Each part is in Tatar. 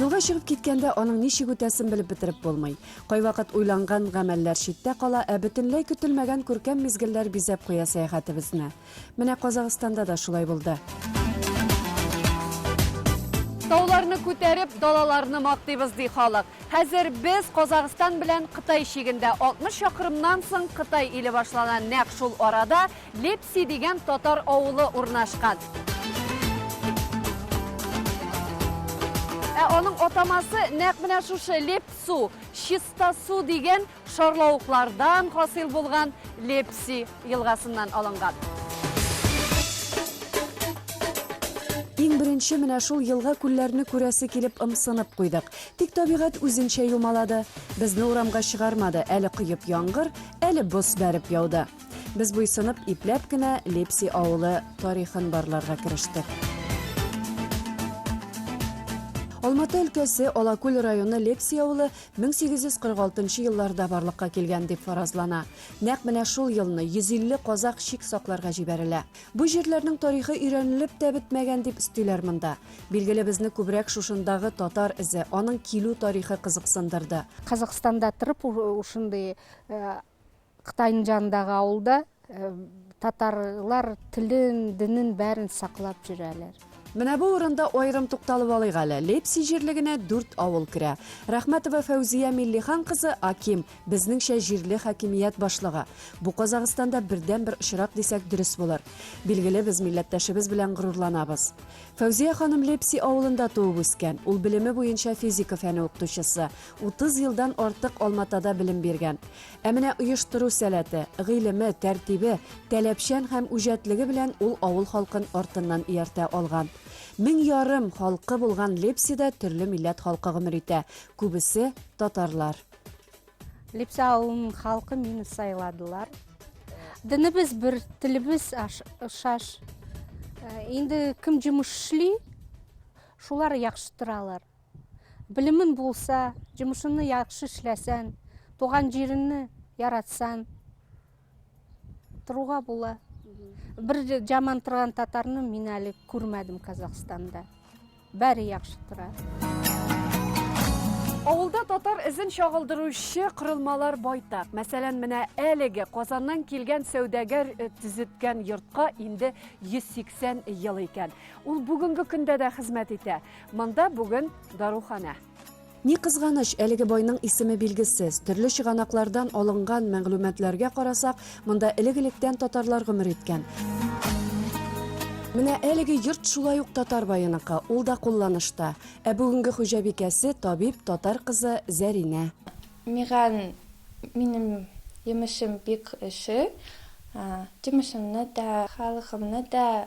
Юлга чыгып киткәндә аның ничек үтәсен белеп бетереп булмый. Кайвакыт уйланган гамәлләр читтә кала, ә бөтенләй көтелмәгән күркәм мизгелләр бизәп куя сәяхәтебезне. Менә Казахстанда да шулай булды. Тауларны күтәреп, далаларны мактыйбыз, ди халык. Хәзер без Казахстан белән Кытай чигендә. 60 чакрымнан соң Кытай иле башлана. Нәкъ шул арада Лепси дигән татар авылы урнашкан. Ә аның атамасы нәкъ менә шушы Лепсу, чиста су дигән Шарлавыклардан хасил булган Лепси елгасыннан алынган. Иң беренче менә шул елга-күлләрне күрәсе килеп ымсынып куйдык. Тик табигать үзенчә юмалады. Безне урамга чыгармады, әле коеп яңгыр, әле боз бәреп яуды. Без буйсынып, ипләп кенә Лепси авылы тарихын барларга керештек. Алматы өлкәсе Алакүл районы Лепси авылы 1846 нчы елларда барлыкка килгән дип фаразлана. Нәкъ менә шул елны 150 казак чик сакларга җибәрелә. Бу җирләрнең тарихы өйрәнелеп тә бетмәгән дип өстиләр монда. Билгеле, безне күбрәк шушындагы татар эзе, аның килү тарихы кызыксындырды. Казакъстанда торып, шундый Кытайның җанындагы авылда татарлар телен, динен бәрен саклап җөрәләр. Менә бу урында аерым тукталып алыйк әле. Лепси җирлегенә дүрт авыл керә. Рәхмәтова Фәүзия Миллихан кызы Аким, безнеңчә җирле хакимият башлыгы. Бу Казагыстанда бердән бер очрак дисәк дөрес булыр. Билгеле, без милләттәшебез белән горурланабыз. Фәүзия ханым Лепси авылында туып үскән. Ул белеме буенча физика фәне укытучысы. 30 елдан артык Алматада белем биргән. Ә менә оештыру сәләте, гыйлеме, тәртибе, таләпчән һәм үҗәтлеге белән ул авыл халкын артыннан ияртә алган. Мең ярым халкы булган Лепсида төрле милләт халкы гомер итә, күбесе татарлар. Лепсә авылының халкы мине сайладылар. Динебез бер, телебез ошаш. Инде кем җимеш эшли, шулар яхшы торалар. Белемең булса, җомышыңны яхшы эшләсән, туган җиреңне яратсаң, торуга була. Бер жаман торган татарны мин әле күрмәдем Казахстанда. Бәре яхшы тора. Авылда татар эзен чагылдыручы кырылмалар байтак. Мәсәлән, менә әлеге Казаннан килгән сәүдәгәр э, төзеткән йортка инде 180 ел икән. Ул бүгенге көндә дә хезмәт итә. Монда бүген даруханә. Ни кызганыч, әлеге байның исеме билгесез. Төрле чыганаклардан алынган мәгълүматларга карасак, монда элек-электән татарлар гомер иткән. Менә әлеге йорт шулай ук татар баеныкы, ул да кулланышта. Ә бүгенге хуҗабикәсе табиб татар кызы Зәринә. Миган минем йомышым бик эше. Йомышымны да, халыкымны да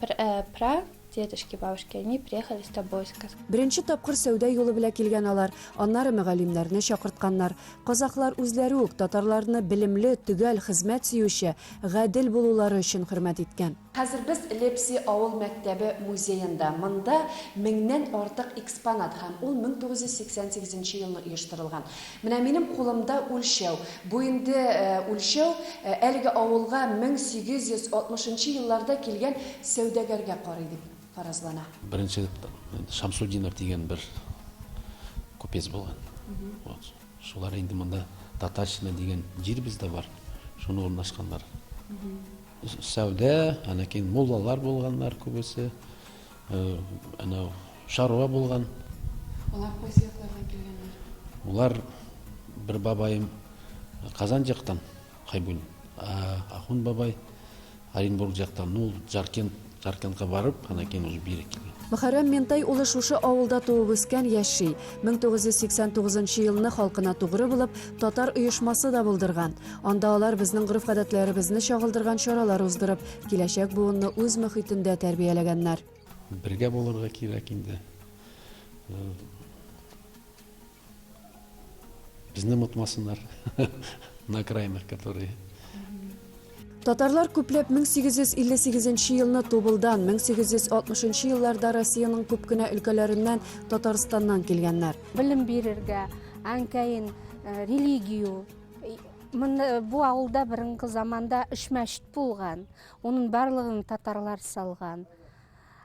Пра, дедушки, бабушки, они приехали с тобой, сказал. Беренче тапкыр сәүдә юлы белә килгән алар, аннары мөгаллимнәрне чакыртканнар. Казахлар үзләре үк татарларны белемле, төгәл, хезмәт сөюче, гадел булулары өчен хөрмәт иткән. Хәзер без Лепси авыл мәктәбе музеенда. Монда меңнән артык экспонат һәм ул 1988 елны оештырылган. Менә минем кулымда үлчәү. Бу инде үлчәү әлеге авылга 1860 нчы елларда килгән сәүдәгәргә карый дип фаразлана. Беренче Шамсутдинов дигән бер купец булган. Вот. Шулар инде монда Татарщина дигән җир бездә бар. Шуны урнашканнар. Сәүдә, аннан кин муллалар булганнар күбесе. Әнә шаруа булган. Алар кайсы яклардан килгәннәр? Улар бер бабаем Казан жактан, Хайбун. Ахун бабай Оренбург жактан, ну, Жаркент, Жаркентка барып, анан кийин уже бир килген. Мөхәррәм Ментай улы шушы авылда туып үскән, яши. 1989 елны халкына тугры булып, татар оешмасы да булдырган. Анда алар безнең гореф-гадәтләребезне чагылдырган чаралар уздырып, Киләчәк буынны үз мөхитендә тәрбияләгәннәр. Бергә булырга кирәк инде. Э, Безне мутмасыннар. На окраинах, которые Татарлар күпләп 1858 елны Тубылдан, 1860 елларда Россиянең күп кенә өлкәләреннән Татарстаннан килгәннәр. Белем бирергә, әнкәен э, религию Мында бу авылда борынгы заманда өч мәчет булган. Унын барлыгын татарлар салган.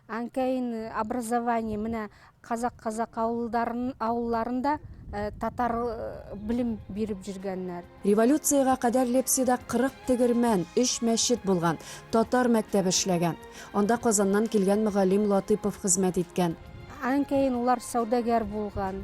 Анкәйн образование менә казак казак авылдарын авылларында э, татар э, белем биреп җиргәннәр. Революциягә кадәр Лепсида 40 тегермән, 3 мәчет булган, татар мәктәбе эшләгән. Анда Казаннан килгән мөгаллим Латыпов хезмәт иткән. Анкәйн улар сәүдәгәр булган.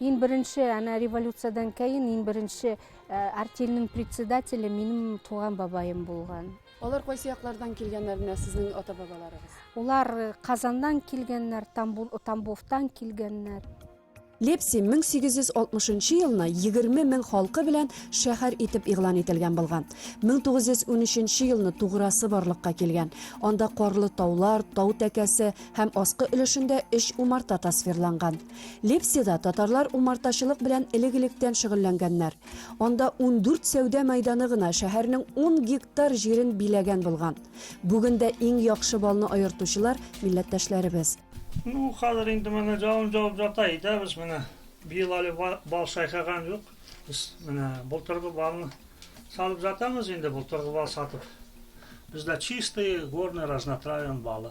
Ин беренче әнә революциядән кәен ин беренче э, артельнең председателе минем туган бабаем булган. Алар кайсы яклардан килгәннәр менә сезнең ата бабаларыгыз? Улар э, Казаннан килгәннәр, Тамбул, Тамбовтан килгәннәр. Лепси 1860 елны 20 мең халкы белән шәһәр итеп игълан ителгән булган. 1913 елны туграсы барлыкка килгән. Анда карлы таулар, тау тәкәсе һәм аскы өлешендә өч умарта тасвирланган. Лепсида татарлар умартачылык белән элек-электән шөгыльләнгәннәр. Анда ундүрт сәүдә мәйданы гына шәһәрнең ун гектар җирен биләгән булган. Бүген дә иң яхшы балны аертучылар, милләттәшләребез. Ну, хәзер инде менә җавын җавып җата, әйтәбез, менә быел әле бал сайкаган юк. Без менә былтыргы балны салып җатамыз инде, былтыргы бал сатып. Бездә чистый, горный, разнотравен балы.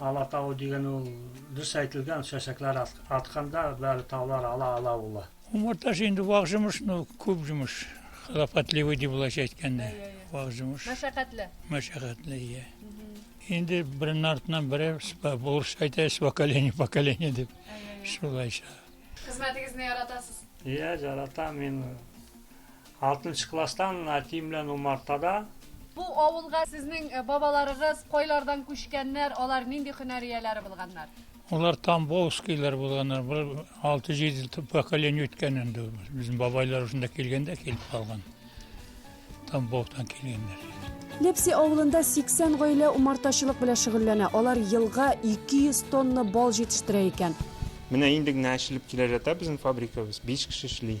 Алатау диген ул дус әйтелгән чәчәкләр атканда бары таулар ала ала улы. Умарта ше инде вак җомыш ну күп җомыш хлопотливый ди булайча әйткәндә вак җомыш мәшәкатьле мәшәкатьле ия инде береннән артыннан бере булырча әйтә с поколения поколения дип шулайча хезмәтегезне яратасыз ия жарата мин Алтынчы класстан әтием белән умартада. Бу авылга сезнең бабаларыгыз кайлардан күчкәннәр, алар нинди һөнәр ияләре булганнар? Алар тамбовскийлар булганнар, бер алты-җиде поколение үткән инде ул. Безнең бабайлар шунда килгәндә килеп калган. Тамбовтан килгәннәр. Лепси авылында 80 гаилә умартачылык белән шөгыльләнә, алар елга 200 тонна бал җитештерә икән. Менә инде генә ачылып килә ята безнең фабрикабыз, биш кеше эшли.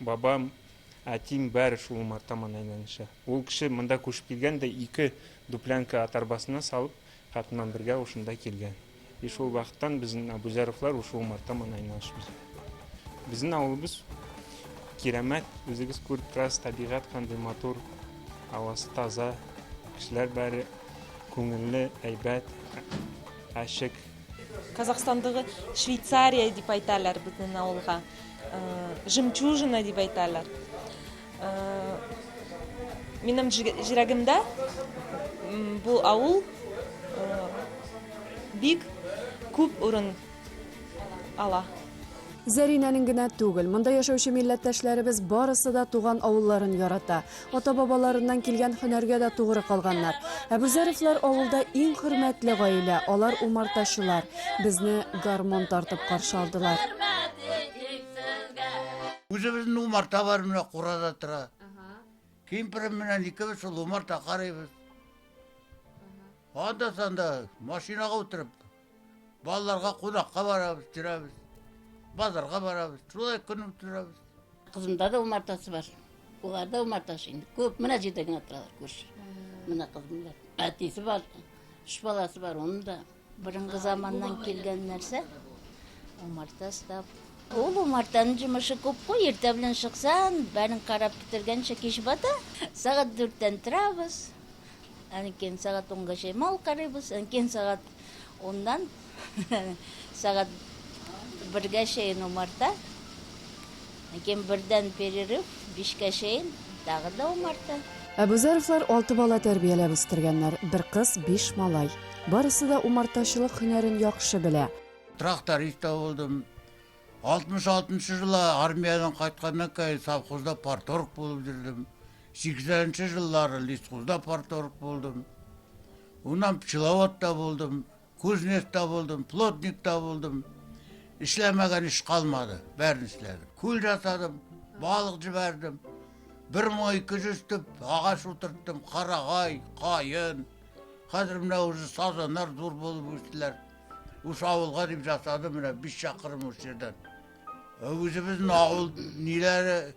Бабам, әтиң бары шул умарта ман әйләнеше. Ул кеше монда күчеп килгән дә ике дуплянка ат арбасына салып, хатынман бергә ушында килгән. И шул вакыттан безнен Абузяровлар ушы умарта ман айналышыбыз. Безнен авылыбыз кирәмәт, үзегез күреп торасыз, табигать кандый матур, авасы таза, кешеләр бары күңелле, әйбәт, ачык. Казахстандагы Швейцария дип әйтәләр безнең авылга. Жемчужина дип әйтәләр. Минем җирәгемдә бу авыл бик күп урын ала. Зәринәнең генә түгел, монда яшәүче милләттәшләребез барысы да туган авылларын ярата. Ата-бабаларыннан килгән һөнәргә дә тугры калганнар. Әбүзәровлар авылда иң хөрмәтле гаилә, алар умартачылар. Безне гармун тартып каршы алдылар. Үзебезнең умарта бар, менә курада тора. Кемпирем белән икебез шул умарта карыйбыз. Анда-санда машинага утырып, Балаларга кунакка барабыз, төрәбез. Базарга барабыз. Шулай көн үткәрәбез. Кызымда да умартасы бар. Улар да умартасы инде. Күп менә җирдә генә торалар күрше. Менә кызым бар. Әтисе бар. Үч баласы бар, оның да. Борынгы заманнан килгән нәрсә. Умарта став. Ул умартаның җимеше күп куй, иртә белән чыксан, бәрен карап бетергәнчә кич бата. Сәгать дүрттән торабыз. Әнкин сәгать унга чәй мал карыйбыз, әнкин сәгать Уннан сәгать бергә чейин умарта. Ләкин бердән перерыв, бишкә чейин, тагы да умарта. Әбүзәровлар алты бала тәрбияләп үстергәннәр, бер кыз, биш малай. Барысы да умартачылык һөнәрен яхшы белә. Тракторист та булдым. 66 нчы җылы армиядән кайтканнан кәен совхозда парторг булып йөрдем. 80 нчы җыллары лесхозда парторг булдым. Уннан пчеловод та булдым, кузнец та булдым, плотник та булдым. Эшләмәгән эш калмады, бәрен эшләдем. Күл жасадым, балык җибәрдем. Бер май ике жүз төп агач утырттым, карагай, каен. Хәзер менә уже сазаннар зур булып үстеләр. Уш авылга дип жасадым менә биш чакрым уш җирдән. Үзебезнең авыл ниләре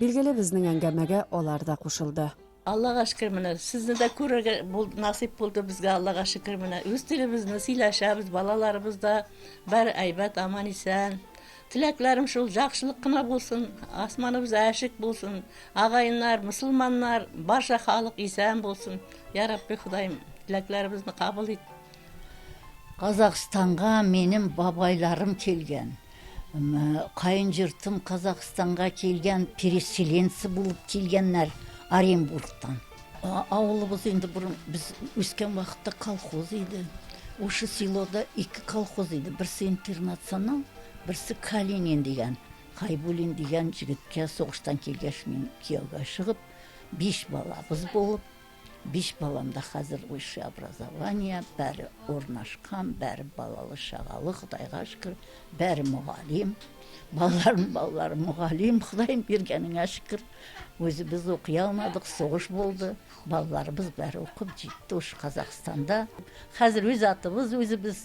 Билгеле, безнең әңгәмәгә алар да кушылды. Аллага шөкер, менә сезне дә күрергә булды, насыйп булды безгә, Аллага шөкер, менә үз телебезне сөйләшәбез, балаларыбыз да бер әйбәт, аман-исән. Теләкләрем шул, яхшылык кына булсын, асманыбыз әшек булсын, агаеннар, мөселманнар, барча халык исән булсын. Я Рабби, Ходаем, теләкләребезне кабул ит. Казахстанга минем бабайларым килгән. Каен җортым Казахстанга килгән, переселенцы булып килгәннәр Оренбургтан. Авылыбыз инде борын без үскән вакытта колхоз иде. Ушы селода ике колхоз иде. Берсе интернационал, берсе Калинин дигән. Хайбулин дигән җегеткә сугыштан килгәч мин кияүгә чыгып, биш балабыз булып, Биш балам да хәзер высшее образование, бәре урнашкан, бәре балалы чагалы, Ходайга шөкер, бәре мөгалим. Балаларым, балаларым мөгалим, Ходайым биргәнеңә шөкер. Үзебез укый алмадык, сугыш булды. Балаларыбыз бәре укып җитте уш Казахстанда. Хәзер үз атыбыз үзебез.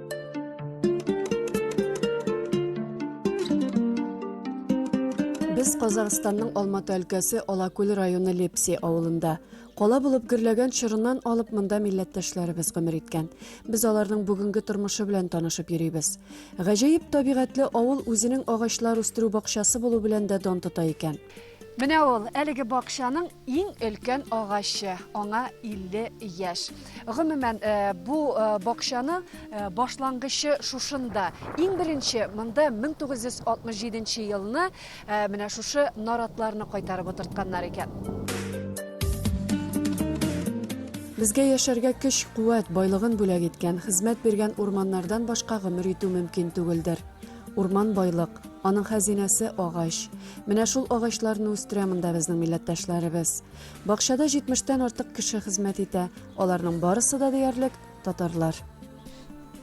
Без Казахстанның Алматы өлкәсе Алакүл районы Лепси авылында. Кала булып гөрләгән чорыннан алып монда милләттәшләребез гомер иткән. Без аларның бүгенге тормышы белән танышып йөрибез. Гаҗәеп табигатьле авыл үзенең агачлар үстерү бакчасы булу белән дә дан тота икән. Менә ул, әлеге бакчаның иң өлкән агачы, аңа 50 яшь. Гомумән, э, бу э, бакчаны э, башлангычы шушында. Иң беренче монда 1967 елны менә шушы наратларны кайтарып утыртканнар икән. Безгә яшәргә көч, куәт, байлыгын бүләк иткән, хезмәт биргән урманнардан башка гомер итү мөмкин түгелдер. Урман байлык, аның хәзинәсе агач. Менә шул агачларны үстерә монда безнең милләттәшләребез. Бакчада 70-тән артык кеше хезмәт итә. Аларның барысы да диярлек татарлар.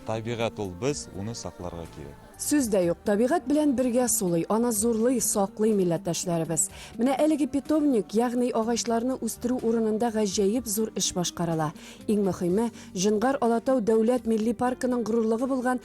Табигать ул без, уны сакларга кирәк. Сүз дә юк, табигать белән бергә сулый, аны зурлый, саклый милләттәшләребез. Менә әлеге питомник, ягъни агачларны үстерү урынында гаҗәеп зур эш башкарыла. Иң мөхиме, Җонгар Алатау дәүләт милли паркының горурлыгы булган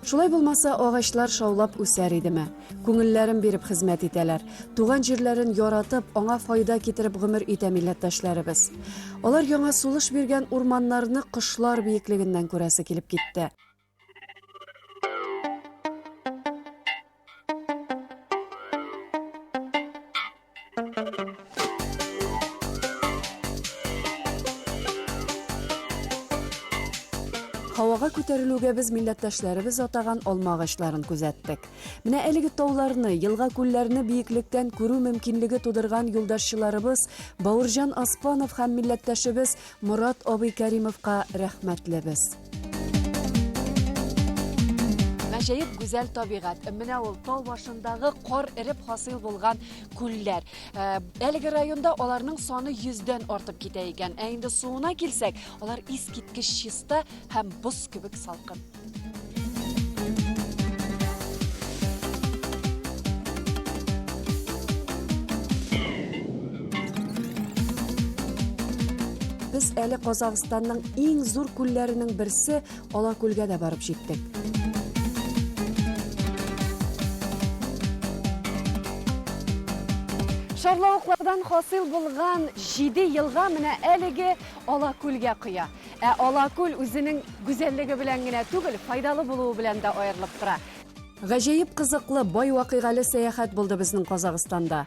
Шулай булмаса, агачлар шаулап үсәр идеме? Күңелләрен биреп хезмәт итәләр. Туган җирләрен яратып, аңа файда китереп гомер итә милләттәшләребез. Алар яңа сулыш биргән урманнарны кошлар биеклегеннән күрәсе килеп китте. Һавага күтәрелүгә без милләттәшләребез атаган алма агачларын күзәттек. Менә әлеге тауларны, елга-күлләрне биеклектән күрү мөмкинлеге тудырган юлдашчыларыбыз Бауырҗан Аспанов һәм милләттәшебез Морат абый Кәримовка рәхмәтле без. Гаҗәеп гүзәл табигать. Менә ул тау башындагы кар эреп хасил булган күлләр. Э, әлеге районда аларның саны 100дән артып китә икән. Ә инде суына килсәк, алар искиткеч чиста һәм боз кебек салкын. Без әле Казахстанның иң зур күлләренең берсе Алакүлгә дә барып җиттек. Шарлавыклардан хасыйл булган җиде елга менә әлеге Алакүлгә коя. Ә Алакүл үзенең гүзәллеге белән генә түгел, файдалы булуы белән дә аерылып тора. Гаҗәеп кызыклы, бай вакыйгалы сәяхәт булды безнең Казахстанда.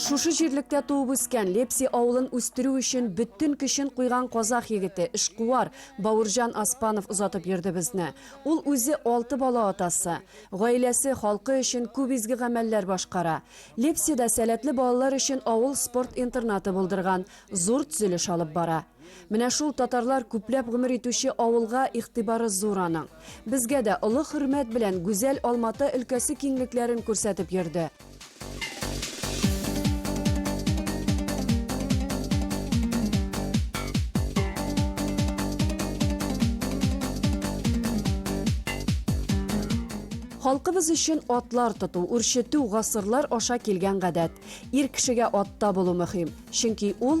Шушы җирлектә туып үскән, Лепси авылын үстерү өчен бөтен көчен куйган казах егете, эшкуар Баурҗан Аспанов озатып йөрде безне. Ул үзе алты бала атасы. Гаиләсе, халкы өчен күп изге гамәлләр башкара. Лепсида сәләтле балалар өчен авыл спорт интернаты булдырган, зур тзелеш алып бара. Менә шул татарлар күпләп гомер итүче авылга игътибары зур аның. Безгә дә олы хөрмәт белән гүзәл Алматы өлкәсе киңлекләрен күрсәтеп йөрде. Халкыбыз өчен атлар тоту, үрчетү гасырлар аша килгән гадәт. Ир кешегә атта булу мөһим, чөнки ул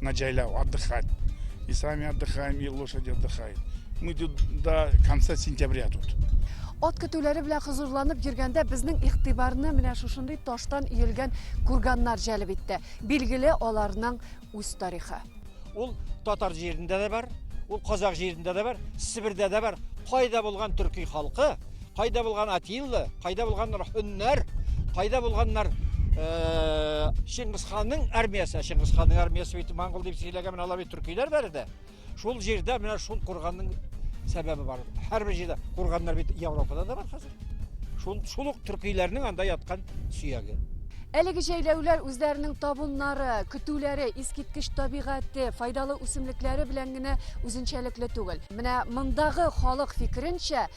на джайлау отдыхать. И сами отдыхаем, и лошади отдыхают. Мы тут до конца сентября тут. Ат көтүләре белән хозурланып йөргәндә безнең игътибарны менә шушындый таштан иелгән курганнар җәлеп итте. Билгеле, аларның үз тарихы. Ул татар җирендә дә бар, ул казак җирендә дә бар, Себердә дә бар. Кайда булган төрки халкы Кайда булган Атилла, кайда булган Рахуннар, кайда булганнар Шыңгысханның армиясе, Шыңгысханның армиясе бит монгол дип сөйләгән менә алар бит төркиләр бары да. Шул җирдә менә шул курганның сәбәбе бар. Һәрбер җирдә курганнар бит Европада да бар хәзер. Шул шул ук төркиләрнең анда яткан сөяге. Әлеге җәйләүләр үзләренең табуннары, көтүләре, искиткеч табигате, файдалы үсемлекләре белән генә үзенчәлекле түгел. Менә мондагы халык фикеренчә,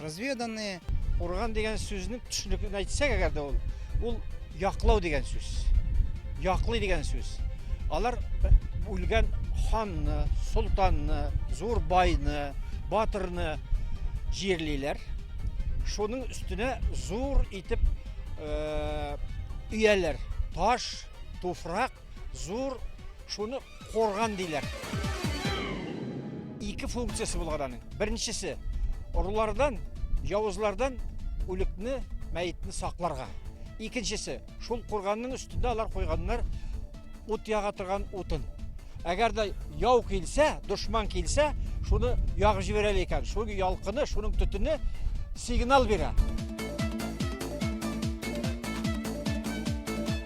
Разведанные. Курган дигән сүзне төшенекле әйтсәк, әгәр дә ул, ул яклау дигән сүз. Яклый дигән сүз. Алар үлгән ханны, солтанны, зур байны, батырны җирлиләр. Шуның өстенә зур итеп э, өяләр. Таш, туфрак, зур шуны Корган диләр. Ике функциясе булган аның. Беренчесе орлардан, явызлардан үлекне, мәетне сакларга. Икенчесе, шул курганның өстендә алар куйганнар ут яга торган утын. Әгәр дә яу килсә, дошман килсә, шуны ягып җибәрәле икән. Шул ялкыны, шуның төтене сигнал бирә.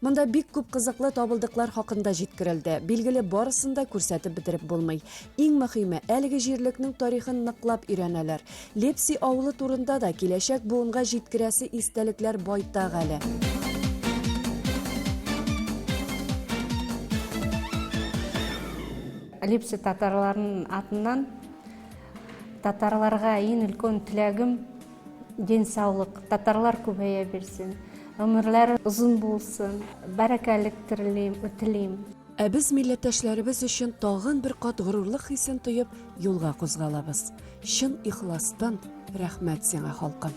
Монда бик күп кызыклы табылдыклар хакында җиткерелде. Билгеле, барысын да күрсәтеп бетереп булмый. Иң мөһиме, әлеге җирлекнең тарихын ныклап өйрәнәләр. Лепси авылы турында да киләчәк буынга җиткерәсе истәлекләр байтак әле. Лепси татарларының атыннан татарларга иң өлкән теләгем, Дин саулык, татарлар күбәя бирсен, гомерләре озын булсын, бәрәкәлек терлим, үтелим. Ә без милләттәшләребез өчен тагын бер кат горурлык хисен тоеп юлга кузгалабыз. Чын ихластан рәхмәт сиңа, халкым!